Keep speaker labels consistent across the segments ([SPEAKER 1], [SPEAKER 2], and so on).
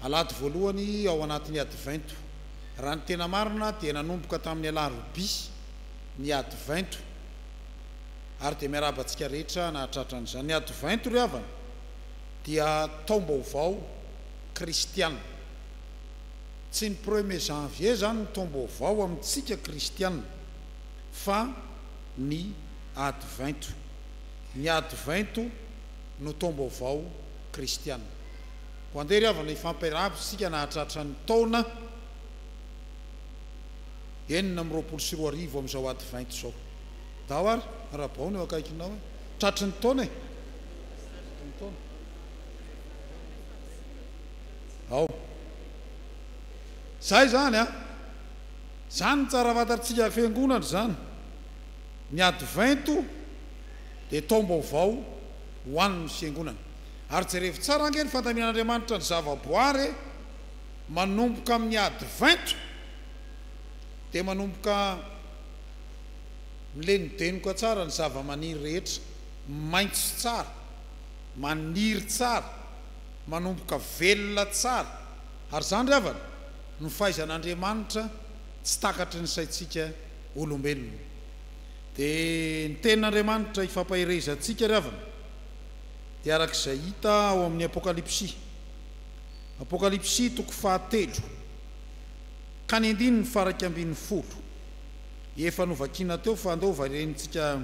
[SPEAKER 1] Alahady voalohany ao anatin'ny Advento. Raha ny tena marina dia nanomboka tamin'ny Alarobia ny Advento ary dia miarahaba antsika rehetra nahatratra an'izany. Ny Advento ry havana dia taom-baovao kristiana. Tsy ny premier janvier izany no taom-baovao amintsika kristiana fa ny Advento. Ny Advento no taom-baovao kristiana. Koa andeha ry havana hifampiarahaba isika nahatratra ny taona enina amby roapolo sy roa arivo amin'izao Advento izao. Daho ary Rabaon eo akaikinao e! Tratry ny taona e! ao. Izay izany an! Izany no tsara fantatsika fiangonana izany. Ny Advento dia taom-baovao ho an'ny fiangonana. Ary jerevo tsara ange ny fandaminan'Andriamanitra ny zavaboary e! Manomboka amin'ny Advento dia manomboka milenodenoka tsara ny zavamaniry rehetra, maitso tsara, maniry tsara. manomboka velona tsara ary izany ry havana no fahaizan'Andriamanitra tsy takatry ny saintsika olombelona dia ny tenin'Andriamanitra ifampaherezantsika ry havana dia araka izay hita ao amin'ny apokalypsy apokalypsy toko fahatelo ka ny andininy faha iraika ambin'ny folo efa novakiana teo fa andao hovarentsika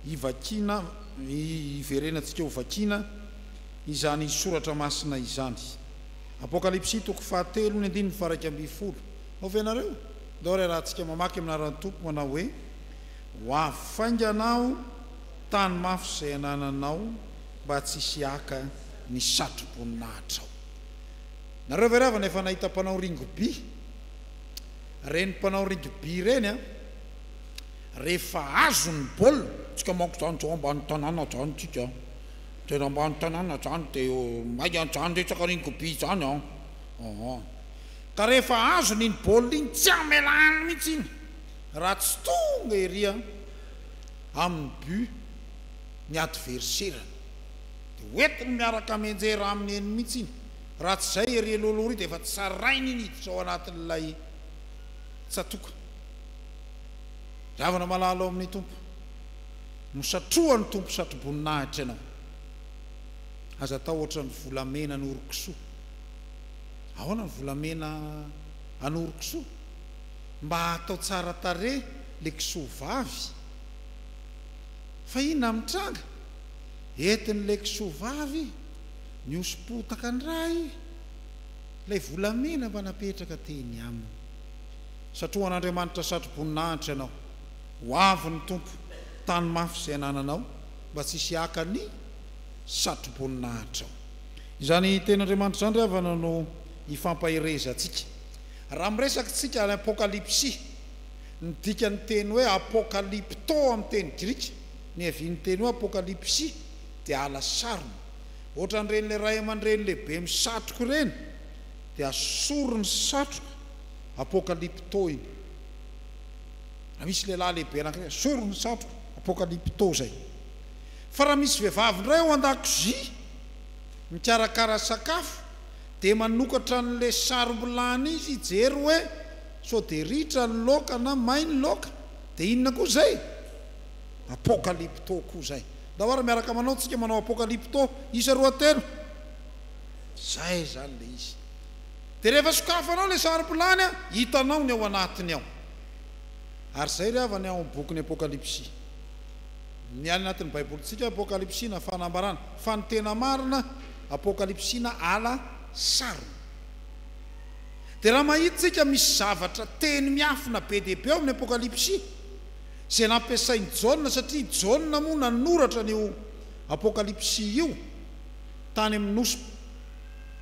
[SPEAKER 1] hivakiana hiverenantsika hovakiana izany soratra masina izany. Apokalypsy toko faha telo ny andininy faha iraika ambin'ny folo. Ao ve ianareo? Ndao ary arahantsika mamaky amin'ny anaran'ny Tompo manao hoe, Ho avy faingana aho tany mafy izay anananao mba tsy hisy haka ny satro-boninahitrao. Nareo ve ravana efa nahita mpanao ringoby? Reny mpanao ringoby reny an! Rehefa azony ny baolina, tsika manko izany izao ambany tanàna izany tsika an! Tena ambany tanàna izany dia maika izany resaka ringoby izany an! Ahaa. Ka rehefa azony iny baolina iny tsy amelany mihitsy iny raha tsy tonga ery an! amin'ny but ny adverserany. Dia hoentiny miaraka mianjera aminy eny mihitsy iny. Raha tsy izay ery aloaloha ery dia efa tsarainy iny hiditra ao anatin'ilay tsatòka. Diavina malala ao amin'ny Tompo. Nosatrohan' ny Tompo satroboninahitra ianao. Aza tahotra ny volamena an' oro-kisoa. Ahoana ny volamena an' oro-kisoa? Mba hatao tsara tarehy le kisoa vavy. Fa inona ny mitranga? Entin' ilay kisoa vavy nihoso-potaka indray ilay volamena mba napetraka teny aminy. Satrohan' Andriamanitra satroboninahitra ianao. Ho avy ny Tompo, tano mafy izay anananao, mba tsy hisy haka ny satroboninahitranao. Izany teny Andriamanitra izany ry havana no hifampaherezantsika. Raha miresaka isika any Apokalypsy, ny dikan'ny teny hoe Apokalypto amin'ny teny grika, niavian'ny teny hoe Apokalypsy, dia ala sarona. Ohatran'ireny ray aman-dreny lehibe misatroka ireny, dia sorony satroka, Apokalypto iny. Raha misy lehilahy lehibe anankiray hoe asoro ny satroko, apokalypto izay. Fa raha misy vehivavy indray ao an-dakozia mikarakara sakafo dia manokatra an'ilay sarom-bilany izy hijery hoe sao dia ritra ny laoka na may ny laoka dia inona koa izay? Apokalypto koa izay. Ndao ary miaraka manao tsika manao apokalypto isa roa telo. Izay izany ilay izy. Dia rehefa sokafanao ilay sarom-bilany an, hitanao ny ao anatiny ao. Ary izay ry havany ao amin'ny bokin'ny Apokalypsy. Ny any anatin'ny Baibolintsika, Apokalypsy na Fanambarana. Fa ny tena marina, Apokalypsy na Ala sarona. Dia raha mahita tsika misy zavatra, teny miafina be dia be ao amin'ny Apokalypsy, izay nampiasain'i Jaona, satria i Jaona moa nanoratra an'io Apokalypsy io, tany amin'ny nosy,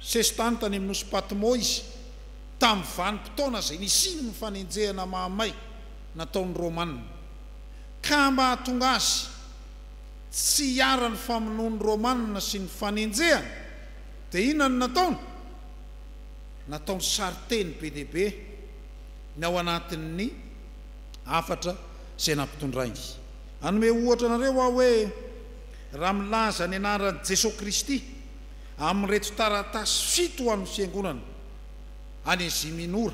[SPEAKER 1] sesitany tany amin'ny nosy Patmo izy. tamin'ny vanim-potoana izay nisian'ny fanenjehana mahamay nataon'ny Romanina, ka mahatonga azy tsy hiharan'ny famonoan'ny Romanina sy ny fanenjehana, dia inona no nataony? Nataony sarinteny be dia be ny ao anatin'ny hafatra izay nampitondrainy. Hanome ohatra anareo aho hoe raha milaza ny anaran'i Jesoa Kristy amin'ireto taratasy fito ho an'ny Fiangonana, any Asia Minora,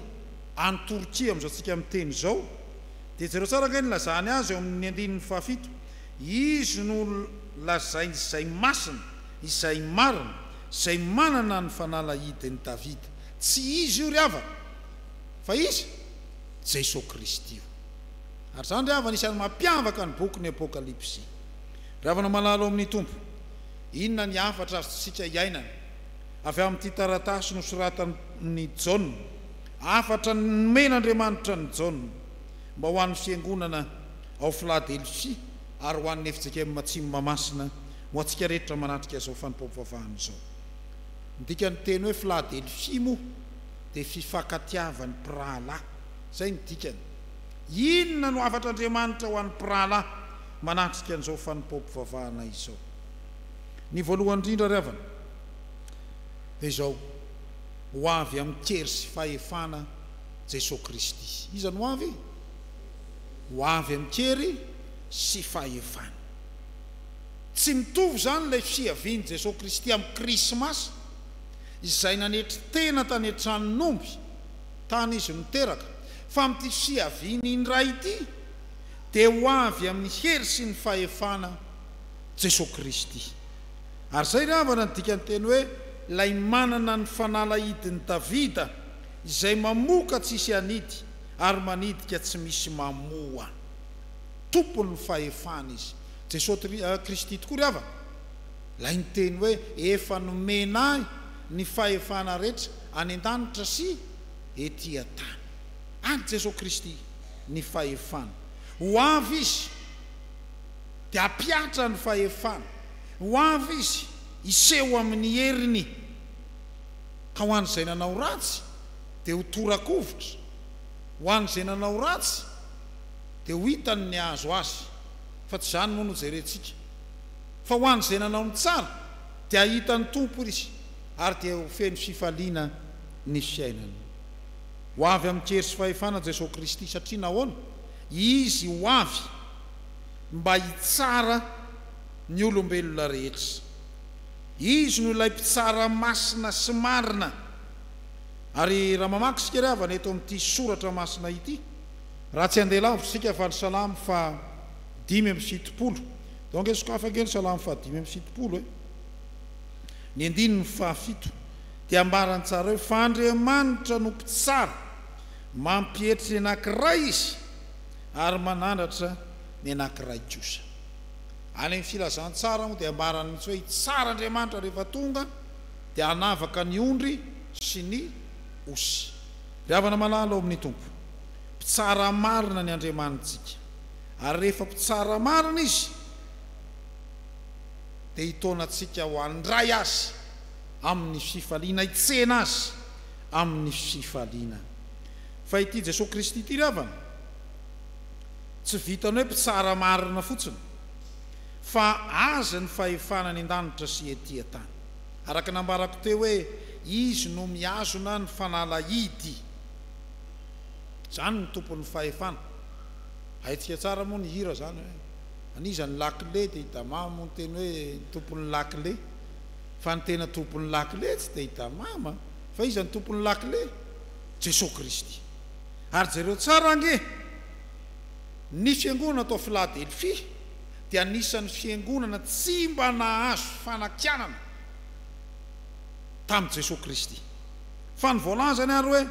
[SPEAKER 1] any Torkia amin'izao antsika miteny izao, dia jereo tsara ange ny lazany azy ao amin'ny andininy fahafito, Izy no lazainy izay masina, izay marina, izay manana ny fanalahidin'i Davida. Tsy izy io ry havana, fa iza? Jeso Kristy io. Ary izany ry havana isan'ny mampiavaka ny bokin'ny Apokalypsy. Ry havana malala ao amin'ny Tompo, inona ny hafatra azontsika iainana Avy amin'ity taratasy nosoratan'i Jaona, hafatra nomen'Andriamanitra an'i Jaona mba ho an'ny fiangonana ao Filadelfia ary ho an'ny fjkm Atsimo Mahamasina ho antsika rehetra manatrika izao fanompoam-pivavahana izao. Ny dikan'ny teny hoe Filadelfia moa dia fifankatiavan'ny mpirahalahy. Izay no dikany. Inona no hafatr'Andriamanitra ho an'ny mpirahalahy manatrika an'izao fanompoam-pivavahana izao? Ny voalohany indrindra ry havana dia izao, ho avy amin-kery sy fahefana Jesoa Kristy. Iza no ho avy? Ho avy amin-kery sy fahefana. Tsy mitovy izany ilay fiavian'i Jesoa Kristy amin'ny Krismasy izay nanetry tena tany an-tranon'omby tany Izy no teraka, fa amin'ity fiaviany indray ity dia ho avy amin'ny hery sy ny fahefana Jesoa Kristy. Ary izay ry havana no dikan'ny teny hoe ilay manana ny fanalahidin'i Davida, izay mamoka tsy hisy hanidy ary manidika tsy misy mamoa. Tompon'ny fahefana Izy. Jesoa Kristy tokoa ry havana ilay niteny hoe efa nomena ahy ny fahefana rehetra any an-danitra sy ety an-tany. An'i Jesoa Kristy ny fahefana. Ho avy Izy. dia hampihatra ny fahefany. Ho avy izy, hiseho amin'ny heriny, ka ho an'izay nanao ratsy, dia ho tora-kovitra, ho an'izay nanao ratsy, dia ho hitany ny hahazo azy, fa tsy izany moa no jerentsika, fa ho an'izay nanao ny tsara, dia hahita ny Tompo izy, ary dia ho feno fifaliana ny fiainany. Ho avy amin'kery sy fahefana Jesosy Kristy, satria nahoana? Izy ho avy mba hitsara ny olombelona rehetra. Izy no ilay mpitsara masina sy marina. Ary raha mamaky isika ry havana eto amin'ity soratra masina ity, raha tsy handeha lavitra isika fa ny salamo faha dimy amby fitopolo, donc efa sokafy ange ny salamo faha dimy amby fitopolo e, ny andininy faha fito, dia ambarany tsara hoe fa Andriamanitra no mpitsara, mampietry ny anankiray izy, Ary manandratra ny anankiray kosa. Any amin'ny Filazantsara moa dia ambarany mihitsy hoe hitsara Andriamanitra rehefa tonga dia hanavaka ny ondry sy ny osy. Ry havana malala ao amin'ny Tompo, mpitsara marina ny Andriamanitsika, ary rehefa mpitsara marina Izy dia hitaona antsika ho handray Azy amin'ny fifaliana, hitsena Azy amin'ny fifaliana. Fa ity Jesoa Kristy ity ry havana, tsy vitan'ny hoe mpitsara marina fotsiny, fa Azy ny fahefana any an-danitra sy ety an-tany. Araka ny nambarako teo hoe Izy no mihazona ny fanalahidy. Izany no Tompon'ny fahefana. Haintsika tsara moa ny hira izany hoe, An'iza ny lakile? dia i Dama moa niteny hoe ny Tompon'ny lakile. Fa ny tena Tompon'ny lakile tsy dia i Dama an! Fa iza ny Tompon'ny lakile? Jesosy Kristy. Ary jereo tsara ange, ny fiangonana tao Philadelphie dia anisan'ny fiangonana tsy mba nahazo fanakianana tamin'i Jesosy Kristy. Fa ny voalazany ary hoe,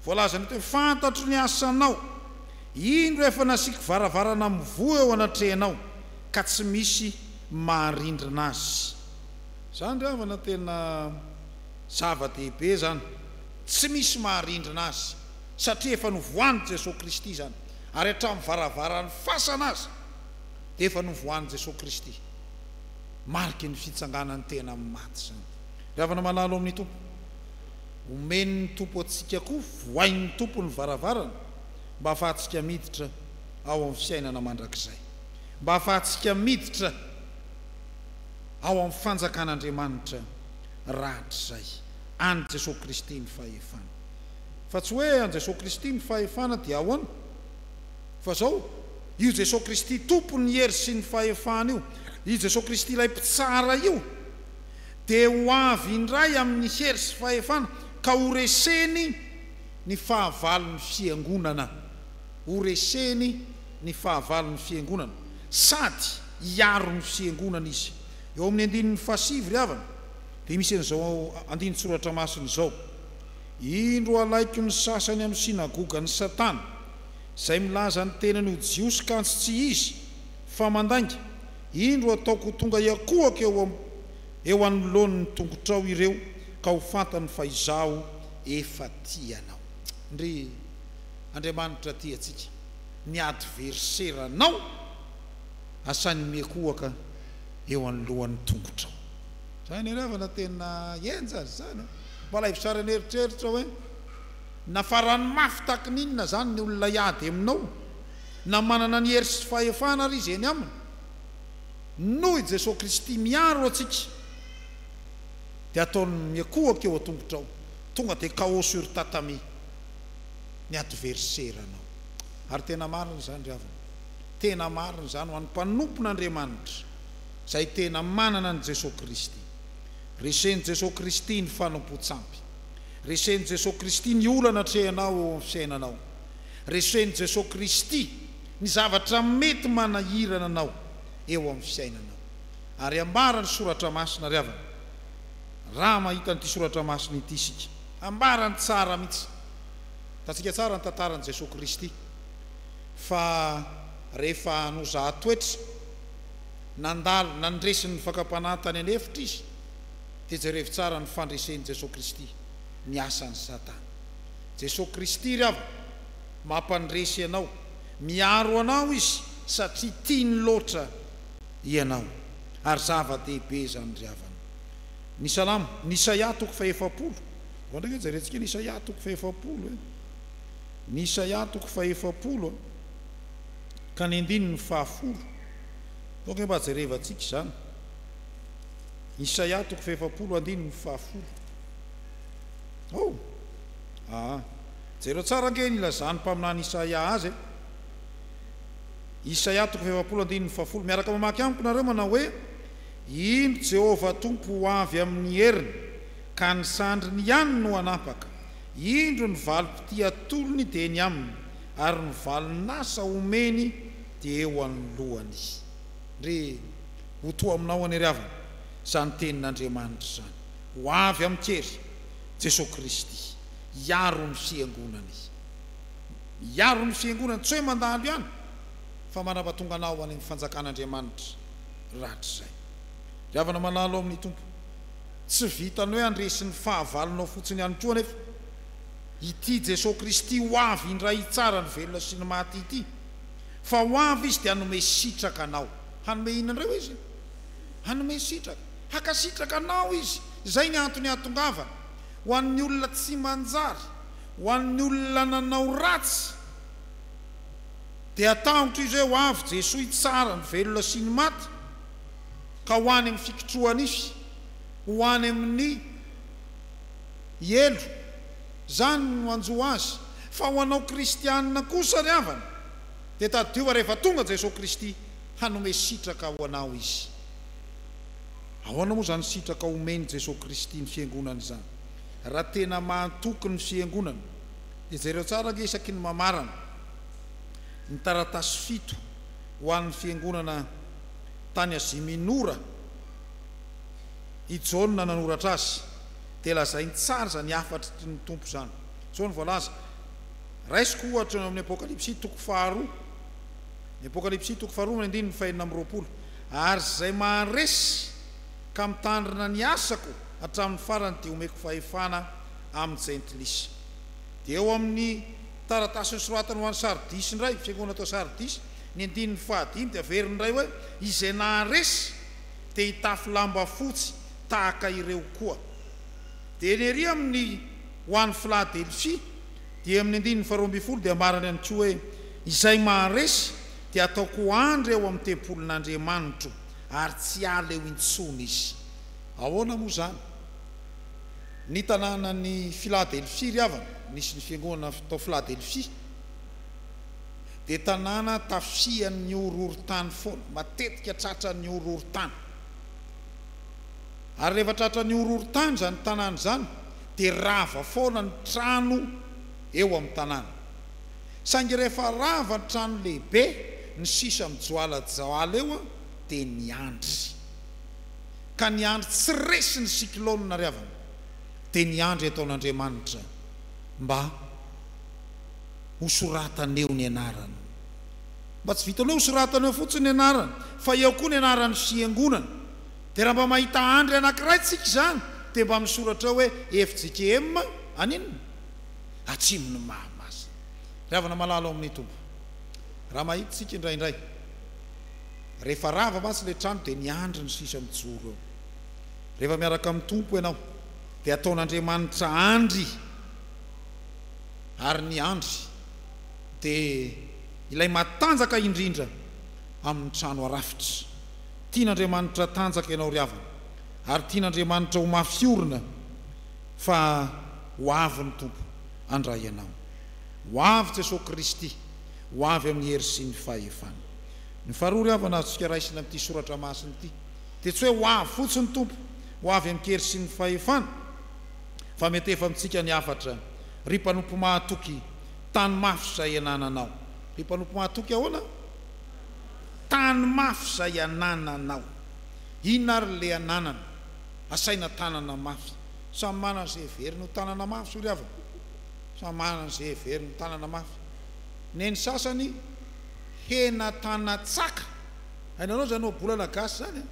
[SPEAKER 1] voalazany eto hoe, Fantatro ny asanao, indro efa nasiako varavarana mivoha eo anatrehanao, ka tsy misy maharindrina azy. Izany ry havana tena. Zava-dehibe izany, tsy misy maharindrina azy, satria efa novohanin'i Jesoa Kristy izany, ary hatramin'ny varavaran'ny fasana aza dia efa novohanin'i Jesoa Kristy. Mariky ny fitsanganan'ny tena amin'ny maty izany. Ry havana malala ao amin'ny Tompo, omen'ny Tompo antsika koa, vohain'ny Tompo ny varavarana mba hahafahantsika miditra ao amin'ny fiainana mandrakizay, mba hahafahantsika miditra ao amin'ny fanjakan'Andriamanitra. rahatrizay. An'i Jesoa Kristy ny fahefana. Fa tsy hoe an'i Jesoa Kristy ny fahefana dia ahoana? Fa zao, io Jesoa Kristy Tompon'ny hery sy ny fahefana io, io Jesoa Kristy ilay Mpitsara io, dia ho avy indray amin'ny hery sy fahefana ka ho reseny ny fahavalon'ny Fiangonana. Ho reseny ny fahavalon'ny Fiangonana. Sady hiaro ny Fiangonana Izy. Eo amin'ny andininy fahasivy ry havana dia misy an'izao andinin-tsoratra masina izao, Indro halaiko ny sasany amin'ny synagogan'i Satana, izay milaza ny tenany ho Jiosy kantsy tsy izy, fa mandainga, indro hataoko ho tonga hiakohaka eo anoloany ny tongotrao ireo ka ho fantany fa Izaho efa tia anao. Ndry! Andriamanitra tia antsika. Ny adverseranao asainy miakohaka eo anoloan'ny tongotrao. Zay anie ravana tena henja ry zany a! Mba alaivo sary an'eritreritra hoe nafarany mafy tahaky ny inona zany ny olona hiady aminao na manana ny hery sy fahefana ary izy eny aminy. Noho i Jesoa Kristy miaro antsika dia ataony miankohoka eo an-tongotrao tonga dia chaos sur tatami ny adverseranao. Ary tena marina zany ravana. tena marina izany ho an'ny mpanompon'Andriamanitra izay tena manana an'i Jesoa Kristy. Resen'i Jesoa Kristy ny fanompoan-tsampy. Resen'i Jesoa Kristy ny olana atrehanao eo amin'ny fiainanao. Resen'i Jesoa Kristy ny zavatra mety manahirana anao eo amin'ny fiainanao. Ary ambara ny Soratra Masina, ry havana, raha mahita an'ity Soratra Masina ity isika. Ambarany tsara mihitsy. Hitantsika tsara ny tantaran'i Jesoa Kristy. Fa rehefa nozaha toetra, nandalo nandresy ny fakam-panahy tany an'efitra izy, dia jerevo tsara ny fandresen'i Jesoa Kristy ny asan'i Satana. Jesoa Kristy ry havana mampandresy ianao, miaro anao Izy satria tiany loatra ianao. Ary zava-dehibe izany ry havana. Ny Salamo, ny Isaia toko faha-efapolo, vao ndraika jerentsika ny Isaia toko faha-efapolo e. Ny Isaia toko fahefapolo ka ny andininy fahafolo, aoka hoe mba jerevantsika izany, Isaia toko fahefapolo andininy fahafolo, oh! aa! jereo tsara ange ny ilazan'ny mpaminany Isaia azy e! Isaia toko fahefapolo andininy fahafolo, miaraka mamaky amiko nareo manao hoe, Indro Jehovah Tompo ho avy amin'ny heriny, ka ny sandriny ihany no hanampaka, Indro ny valim-pitia atolony dia eny aminy, ary ny valin-asa omeny dia eo anoloany. Re, ho toa aminao anie ry havana izany tenin'Andriamanitra izany. Ho avy amin'i Hery, Jesoa Kristy, hiaro ny Fiangonany. Hiaro ny Fiangonany, tsy hoe mandalo ihany, fa manapatonga anao any amin'ny fanjakan'Andriamanitra rahatrizay. Ry havana malala ao amin'ny Tompo. Tsy vitan'ny hoe handresy ny fahavalonao fotsiny ihany koa anefa ity Jesoa Kristy ho avy indray hitsara ny velona sy ny maty ity, fa ho avy Izy dia hanome sitraka anao. Hanome inona indray hoy Izy? Hanome sitraka. Hankasitraka anao Izy. Izay ny antony hahatongavany. Ho an'ny olona tsy manjary, ho an'ny olona nanao ratsy, dia tahotra izy hoe ho avy Jesoa hitsara ny velona sy ny maty. ka ho any amin'ny fikotroha-nify, ho any amin'ny helo. Izany no hanjo azy. Fa ho anao kristiana kosa ry havana, dia tadidio fa rehefa tonga Jesoa Kristy, hanome sitraka ho anao Izy. Ahoana moa izany sitraka homen'i Jesoa Kristy ny Fiangonany izany? Raha tena mahatoky ny Fiangonana, dia jereo tsara ange isaky ny mamarana ny taratasy fito ho an'ny Fiangonana tany Azia Minora i Jaona nanoratra azy, dia lazainy tsara izany hafatry ny Tompo izany. Izao no voalaza, Raisiko ohatra eo amin'ny Apokalypsy toko faharoa, ny Apokalypsy toko faharoa amin'ny andininy fahenina amby roapolo, Ary izay maharesy ka mitandrina ny asako hatramin'ny farany dia homeko fahefana amin'ny jentilisa. Dia eo amin'ny taratasy nosoratany ho an'i Sardisy indray, fiangonana tao Sardisy, Ny andininy fahadimy dia averiny indray hoe, Izay naharesy dia hitafy lamba fotsy tahaka ireo koa. Dia ny ery amin'ny ho an'i Filadelfia dia amin'ny andininy faharoa ambin'ny folo dia ambarany ihany koa hoe, Izay maharesy dia ataoko ho andry ao amin'ny tempolin'Andriamanitro, ary tsy hiala eo intsony izy. Ahoana moa izany? Ny tanànan'i Filadelfia, ry havana, nisy ny fiangonana tao Filadelfia. dia tanàna tafihan'ny horohorontany foana, matetika tratran'ny horohorontany. Ary rehefa tratran'ny horohorontany izany tanàna izany dia rava foana ny trano eo amin'ny tanàna. Saingy rehefa rava ny trano lehibe, ny sisa mijoalajoala eo dia niandry. Ka niandry tsy resy ny cyclone ry havana, dia niandry ataon'Andriamanitra mba. ho soratana eo ny anarany. Mba tsy vitan'ny hoe ho soratana eo fotsiny ny anarany fa eo koa ny anaran'ny fiangonana. Dia raha mba mahita andry anankiray tsika izany dia mba misoratra eo hoe fjkm aninona? Atsimon'ny Mahamasina. Ry havana malala ao amin'ny Tompo. Raha mahita tsika indraindray. Rehefa rava mantsy ilay trano dia miandry ny sisa mijoro eo. Rehefa miaraka amin'ny Tompo ianao dia ataon'Andriamanitra andry. ary ny andry dia ilay matanjaka indrindra amin'ny trano arafitra. Tian'Andriamanitra tanjaka ianao ry havana, ary tian'Andriamanitra ho mafy orina fa ho avy ny Tompo handray anao. Ho avy Jesoa Kristy, ho avy amin'ny hery sy ny fahefana. Ny faharoa ry havana azontsika raisina amin'ity soratra masina ity dia tsy hoe ho avy fotsiny Tompo, ho avy amin-kery sy ny fahefana, fa mety efa amintsika ny hafatra ry mpanompo mahatoky tany mafy izay anananao ry mpanompo mahatoky ahoana tany mafy izay anananao inona ary le ananana asaina tanana mafy samy manana izay heveriny ho tanana mafy zo ry havana samy manana izay heveriny ho tanana mafy neny sasany hena tanatsaka hainareo izany ohabolana gasy izany a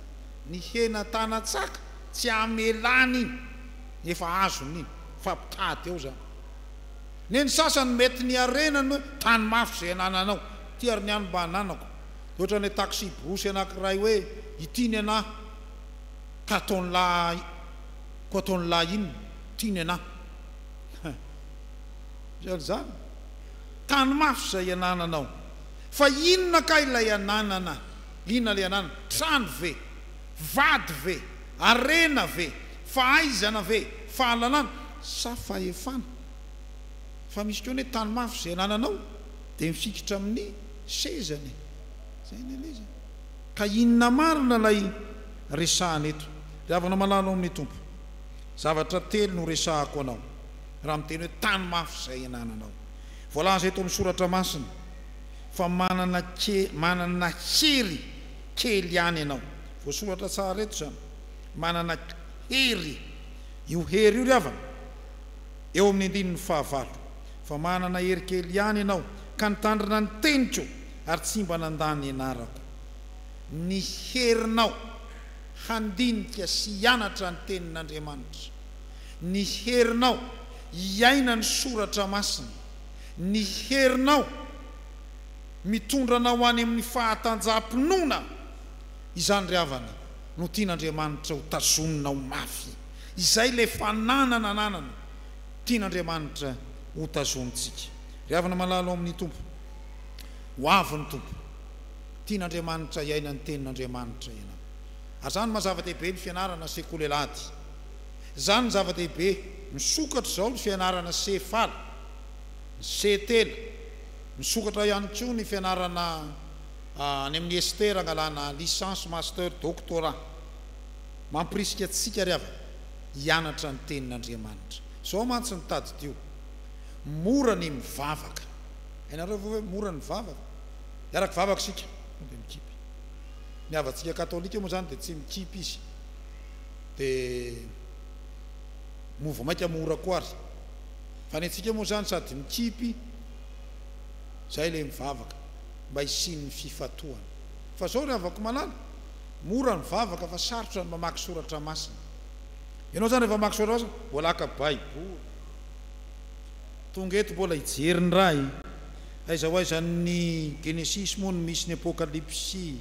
[SPEAKER 1] ny hena tanatsaka Tsy hamelany iny ny efa azony iny fa mpitady ao zany ne ny sasany mety ny harenany hoe tany mafy zay anananao ty ary ny any mba ananako de otrany taxi brousse anakiray hoe ity ny anah ka ataony la ko ataony la inona ty ny anah hein otrany zany tany mafy zay anananao fa inona kay ilay ananana inona le ananana trano ve Vady ve? Harena ve? Fahaizana ve? Fahalalana? Sa fahefana? Fa misy koa ny hoe tany mafy izay anananao dia mifikitra amin'ny sezany e! Izay ny elezany. Ka inona marina ilay resahana eto? Ry havana malala ao amin'ny Tompo, zavatra telo no resahako anao raha miteny hoe tany mafy izay anananao. Voalaza eto amin'ny soratra masina fa manana manana hery kely ihany ianao. Voasoratra tsara eto izany. Manana hery. Io hery io ry havana, eo amin'ny andininy fahavalo. Fa manana hery kely ihany ianao, ka nitandrina ny teniko ary tsy mba nandà ny anarako. Ny herinao handinika sy hianatra ny Tenin'Andriamanitra, ny herinao hiaina ny Soratra Masina, ny herinao. Mitondra anao ho any amin'ny fahatanjaham-pinoana izany ry havana no tian'Andriamanitra ho tazoninao mafy. Izay ilay fananana ananana tian'Andriamanitra ho tazonintsika. Ry havana malala ao amin'ny Tompo, ho avy ny Tompo. Tian'Andriamanitra hiaina ny Tenin'Andriamanitra ianao. Ary izany no maha zava-dehibe ny fianarana sekoly alahady. Izany no zava-dehibe misokatra izao ny fianarana sefala, ny setena. Misokatra ihany koa ny fianarana any amin'ny ESTER hangalana Licence, Master, Doctorat. Mampirisika antsika ry havana hianatra ny Tenin'Andriamanitra. Izao mantsy no tadidio, Mora ny mivavaka. Hainareo ve hoe mora ny mivavaka? Hiara kivavaka isika dia mikipy. Ny havantsika katolika moa izany dia tsy mikipy izy. Dia vao mainka mora koa ary. Fa ny antsika moa izany sady mikipy Zay le mivavaka mba hisian'ny fifatohana. Fa zao ry havako malala, mora ny vavaka fa sarotra ny mamaky soratra masina. Ianao zany rehefa mamaky soratra masina mbola haka baiboly. Tonga eto mbola hijery ny raha e. Aiza ho aiza ny genesisy moa no misy ny apokalipsy.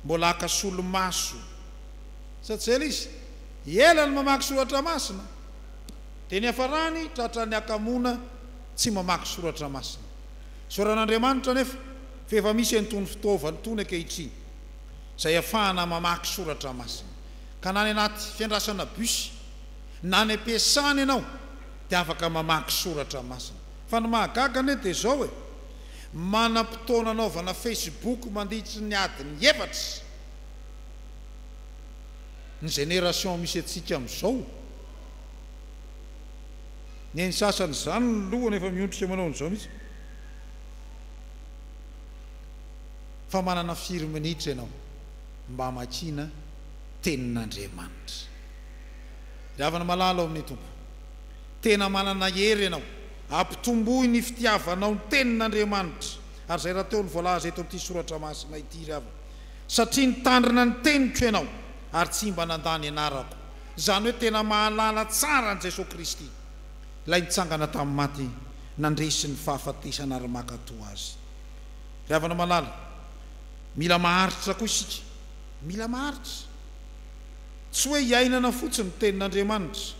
[SPEAKER 1] Mbola haka solomaso. Sa tsy zay le izy? Ela ny mamaky soratra masina. Dia ny hiafarany tratran'ny hakamoana. tsy mamaky soratra masina. Tsoran'Andriamanitra anefa fa efa misy an'itony fitaovana itony ankehitriny izay ahafahana mamaky soratra masina, ka na any anaty fiandrasana bus na any am-piasana ianao dia afaka mamaky soratra masina. Fa ny mahagaga anie dia izao e, manam-potoana anaovana facebook mandritry ny adiny efatra ny génération misy antsika amin'izao. Ny an'ny sasany izany ny lohany efa miondrika manao an'izao mihitsy fa manana firy minitra ianao mba hamakiana tenin'Andriamanitra? Ry havana malala ao amin'ny Tompo, tena manana hery ianao hampitomboy ny fitiavanao ny tenin'Andriamanitra ary izay rahateo no voalaza eto amin'ity soratra masina ity ry havana, satria nitandrina ny teniko ianao ary tsy mba nandà ny anarako Izany hoe tena mahalala tsara an'i Jesoa Kristy, Ilay nitsangana tamin'ny maty, nandresy ny fahafatesana ary maka toa Azy. Ry havana malala, mila maharitra koa isika. Mila maharitra. Tsy hoe iainana fotsiny ny Tenin'Andriamanitra,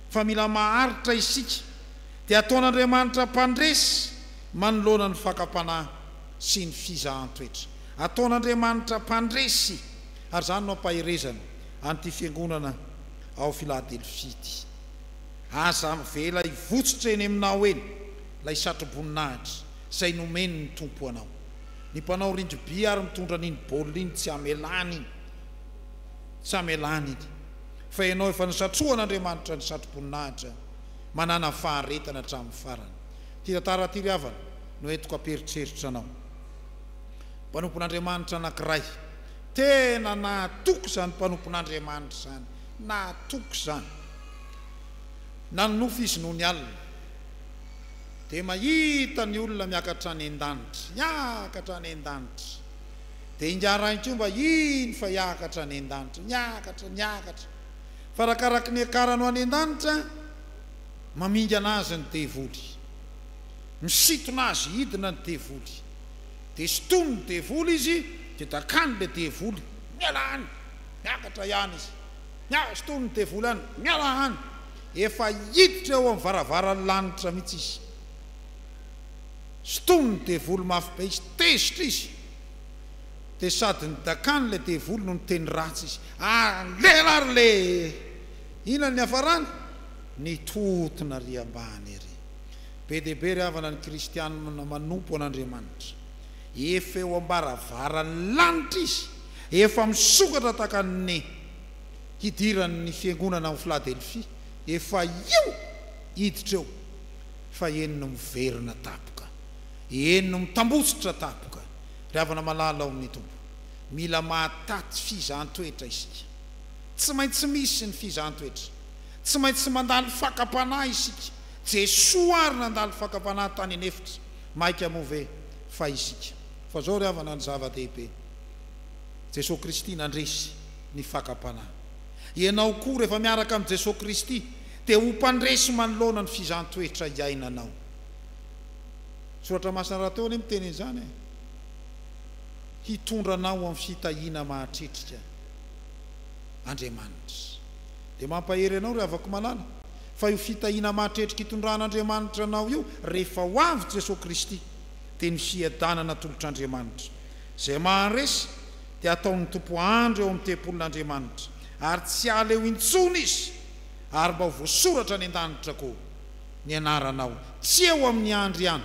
[SPEAKER 1] fa mila maharitra isika, dia ataon'Andriamanitra mpandresy manoloana ny fakam-panahy sy ny fizahan-toetra. Ataon'Andriamanitra mpandresy, ary izany no ampaherezana. an'ity Fiangonana ao Filadelfia ity. Aza avela hivotsotra eny aminao eny ilay satroboninahitra izay nomen'ny Tompo anao. Ny mpanao rindriby ary mitondra an'iny baolina iny tsy hamelany iny, tsy hamelany iny, fa ianao efa nosatrohan'Andriamanitra ny satroboninahitra manàna faharetana hatramin'ny farany. Ity tantara ity ry havana no entiko hampieritreritra anao. Mpanompon'Andriamanitra anankiray. Tena nahatoky izany mpanompon'Andriamanitra izany, nahatoky izany. Nanonofy izy nony alina, dia mahita ny olona miakatra any an-danitra, miakatra any an-danitra. Dia ingahy Rainkomba hino fa hiakatra any an-danitra, miakatra, miakatra. Fa arakaraky ny hiakarany ho any an-danitra, mamingana azy ny devoly. Misintona azy hidina ny devoly. dia sintomin ny devoly izy dia dakany le devoly miala any miakatra iany izy miala sintomin ny devoly any miala any efa hiditra eo am varavaran lanitra mitsy izy sintomin ny devoly mafy be izy tezitra izy dia sady ny dakany le devoly no niteny ratsy izy aleha ary le inona ny niafarany nitohotona ary ambany ery Be dia be ry havana ny kristianina manompo an'Andriamanitra. Efa eo am-baravaran'ny lanitra izy, efa misokatra tahaka ny hidiran'ny fiangonana ao Filadelfia, efa eo hiditra eo, fa eny no miverina tapoka, eny no mitambotsitra tapoka. Ry havana malala ao amin'ny Tompo, mila mahataty fizahan-toetra isika. Tsy maintsy misy ny fizahan-toetra. Tsy maintsy mandalo fakam-panahy isika. Jesoa ary nandalo fakam-panahy tany an'efitra, maika moa ve fa isika? Fa zao ry havana ny zava-dehibe, Jesoa Kristy nandresy ny fakam-panahy. Ianao koa rehefa miaraka amin'i Jesoa Kristy dia ho mpandresy manoloana ny fizahn-toetra iainanao. Soratra masina rahateo anie miteny an'izany e! Hitondra anao amin'ny fitahiana mahatretrika Andriamanitra. Dia mampahery anao ry havako malala. fa io fitahiana mahatretrika itondran'Andriamanitra anao io rehefa ho avy Jesoa Kristy dia ny fiadanana atolotr'Andriamanitra. Izay maharesy dia ataon'ny Tompo hahandro eo amin'ny tempolin'Andriamanitra ary tsy hiala eo intsony izy ary mba ho voasoratra any an-danitra koa ny anaranao, tsy eo amin'ny andry ihany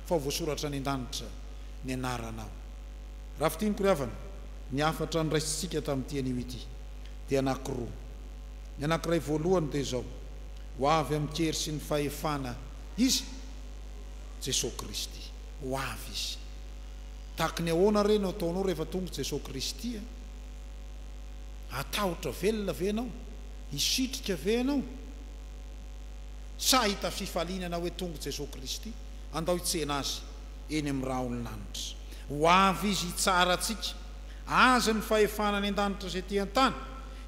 [SPEAKER 1] fa ho voasoratra any an-danitra ny anaranao. Raha fintiniko ry havana, ny hafatra noraisintsika tamin'ity anio ity dia anankiroa. Ny anankiray voalohany dia izao, Ho avy amin'ny hery sy ny fahefana Izy, Jesoa Kristy. Ho avy Izy. Tahaky ny ahoana re no ataonao rehefa tonga Jesoa Kristy e? Hatahotra velona ve ianao? Hisitrika ve ianao? Sa hahita fifaliana ianao hoe tonga Jesoa Kristy? Andao hitsena Azy eny amin'ny rahon'ny lanitra. Ho avy Izy hitsara antsika. Azy ny fahefana any an-danitra sy ety an-tany.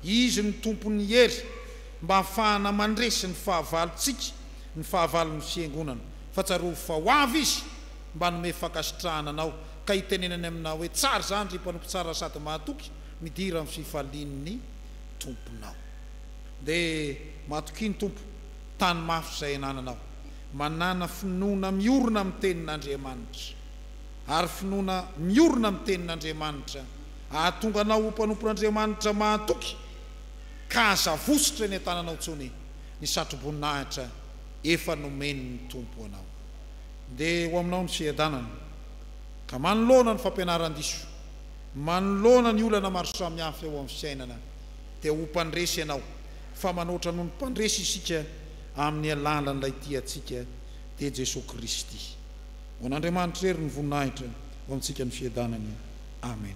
[SPEAKER 1] Izy no Tompon'ny hery mba hahafahana mandresy ny fahavalontsika, ny fahavalon'ny Fiangonana. Fa tsarovy fa ho avy Izy mba hanome fankasitrahana anao, ka hitenenany aminao hoe, Tsara izany, ry mpanompo tsara sady mahatoky, midira amin'ny fifalian'ny Tomponao. Dia matokia ny Tompo, tano mafy izay anananao. Manàna finoana miorina amin'ny Tenin'Andriamanitra, ary finoana miorina amin'ny Tenin'Andriamanitra Hahatonga anao ho mpanompon'Andriamanitra mahatoky ka aza vositra eny an-tananao intsony ny satroboninahitra efa nomen'ny Tompo anao. Ndeha ho aminao ny fiadanana ka manoloana ny fampianaran-diso, manoloana ny olana maro samihafa eo amin'ny fiainana dia ho mpandresy ianao fa manoatra noho ny mpandresy isika amin'ny alalan'ilay tia antsika dia Jesoa Kristy. Ho an'Andriamanitra irery ny voninahitra ho amintsika ny fiadanana. Amen.